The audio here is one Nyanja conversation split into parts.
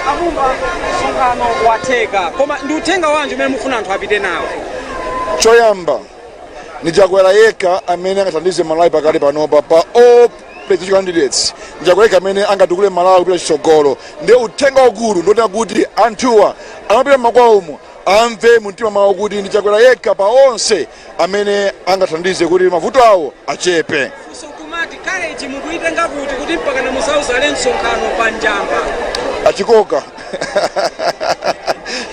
a Mumba msonkhano watheka koma ndi uthenga wanji umene mufuna anthu apite nawo choyamba ndi Chakwera yekha amene angathandize malawi pakali panopa pa all presidential candidates ndi Chakwera yekha amene angatukule malawi kupita chitsogolo ndiye uthenga wakulu ndi wonena kuti anthuwa amapita m'makwawomo amve mumtima mwawo kuti ndi chakwera yekha pa onse amene angathandize kuti mavuto awo achepe funso limati courage mukuitenga kuti kuti mpaka na mudzadzale msonkhano pa Njamba achikoka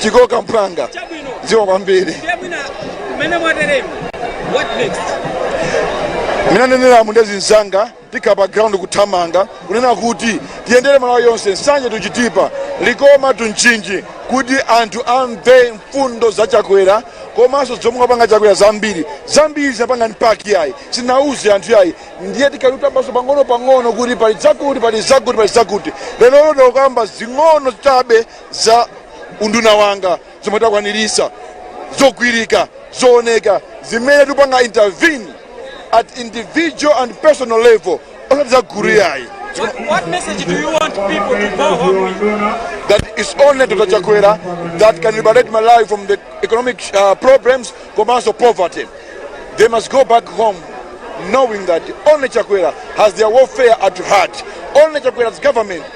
chikoka mphwanga chabwino dziwa kwambiri ndiye mwina mmene mwateremu what next mmene ndaneneramu ndi azinzanga Tikhala pa ground kuthamanga kunena kuti tiyendere Malawi yonse, Nsanje to Chitipa, Likoma to Mchinji kuti anthu amve mfundo za Chakwera komanso zomwe wapanga Chakwera zambiri zambiri zinapanga ndi party yayi sinauze anthu yayi ndiye tikhala tikutambasula pang'ono pang'ono kuti pali zakuti pali zakuti pali zakuti lero ndakamba zing'ono chabe za unduna wanga zomwe takwaniritsa zogwirika zooneka zimene tipanga intervene at individual and personal level osati za gulu yayi What, what message do you want people to go home with? that is only Dr. Chakwera that can liberate Malawi from the economic uh, problems, commercial poverty. They must go back home knowing that only Chakwera has their welfare at heart. Only Chakwera's government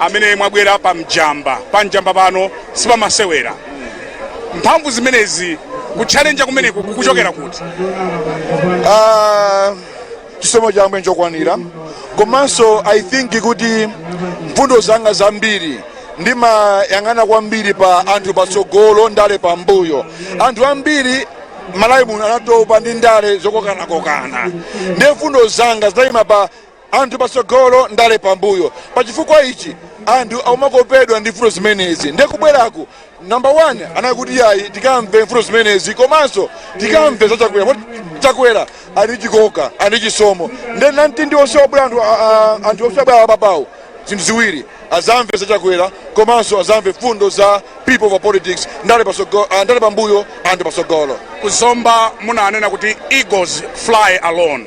amene mwabwera pa Njamba pa Njamba pano sipamasewera mphamvu zimenezi kuchallenger kumeneku kukuchokera kuti Ah, chisomo cha ambuye nchokwanira komanso i think kuti mfundo zanga zambiri ndimayang'ana kwambiri pa anthu patsogolo ndale pambuyo anthu ambiri malawi muno anatopa ndi ndale zokokanakokana ndiye mfundo zanga zinayima pa Anthu patsogolo ndale pambuyo. Pachifukwa ichi anthu akumakopedwa ndi mfundo zimenezi. Ndiye kubweraku number one anali kuti yayi tikamve mfundo zimenezi komanso tikamve za Chakwera. Poti Chakwera ali ndi chikoka, ali ndi chisomo. Ndiye anthu onse obwera anthu a- a- anthu onse abwera apawo zinthu ziwiri azamve za Chakwera komanso azamve mfundo za people over politics ndale patsogolo ah, ndale pambuyo anthu patsogolo. Ku Zomba munanena kuti eagles fly alone.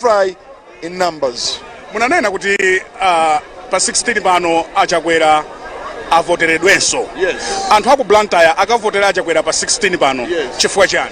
fly in numbers. Munanena kuti uh, pa 16 pano achakwera avoteredwenso yes. anthu aku blantyre akavotera achakwera pa 16 pano yes. chifukwa chani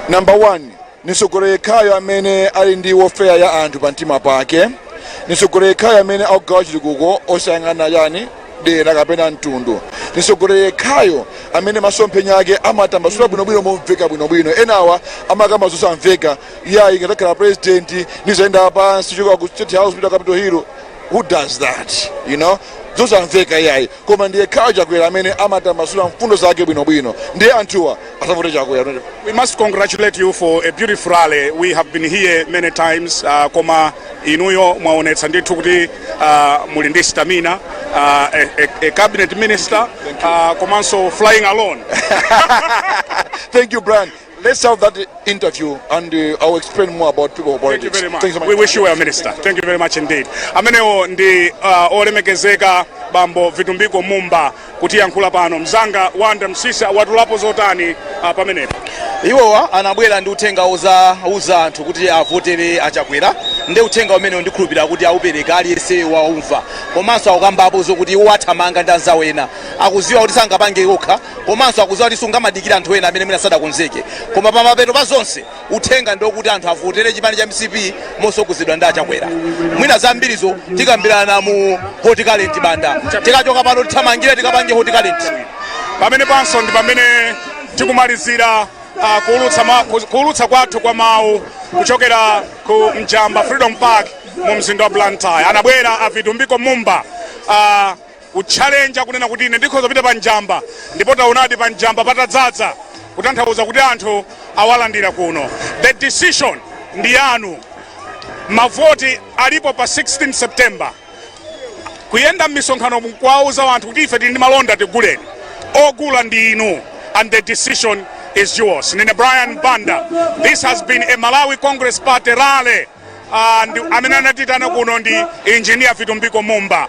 number one ndi mtsogoleri yekhayo amene ali ndi welfare ya anthu pa mtima pake ndi mtsogoleri yekhayo amene akugawa chitukuko osayang'ana chani dera kapena mtundu ndi mtsogoleri yekhayo amene masomphenya ake amatambasula bwinobwino momveka bwinobwino enawa amakamba zosamveka iyayi ndikadzakhala president ndizayenda pansi choka ku state house pita Capital Hill who does that you know zosamveka iyayi koma ndi yekhayo Chakwera amene amatambasula mfundo zake bwinobwino ndiye anthuwa azavote Chakwera We must congratulate you for a beautiful rally. We have been here many times uh, koma inuyo mwaonetsa ndithu kuti uh, muli ndi stamina uh, a, a, a cabinet minister uh, komanso flying alone thank you brian Let's have that interview and uh, I'll explain more about people of Thank you politics. very much. Thank you so We much. wish you well, Minister. Thank you very much indeed. Amenewo ndi olemekezeka bambo Vitumbiko Mumba kutiyankhula pano. Mzanga Wanda Msisa watulapo zotani pamenepo. iwowa anabwera ndi uthenga ozawauza anthu kuti avotere a Chakwera ndi uthenga umenewo ndikhulupirira kuti aupereka aliyense waumva komanso akukambapo zokuti iwo athamanga ndi anzawo ena akuziwa kuti sangapange okha komanso akuziwa kuti sungamadikire anthu ena amene mwina sadakonzeke koma pamapeto pa zonse uthenga ndi okuti anthu avotere chipani cha mcp mosogozedwa ndi a chakwera mwina zambirizo tikambirana mu hot current banda tikachoka pano tithamangire tikapange hot current pamenepanso ndi pamene tikumalizira uh, kuulutsa, ma, ku- kuulutsa kwathu kwa mawu kuchokera ku njamba freedom park mu mzinda wa blantyre anabwera a vitumbiko mumba uh, kutchalenja kunena kuti ine ndikhoza kupita pa njamba ndipo taonadi pa njamba patadzadza kutanthauza kuti anthu awalandira kuno the decision ndi yanu mavoti alipo pa 16 september kuyenda m'misonkhano kuwauza anthu kuti ife tili ndi malonda tiguleni ogula ndi inu and the decision is yours ndine brian banda this has been a malawi congress party rally and amene anatiitana kuno ndi engineer vitumbiko mumba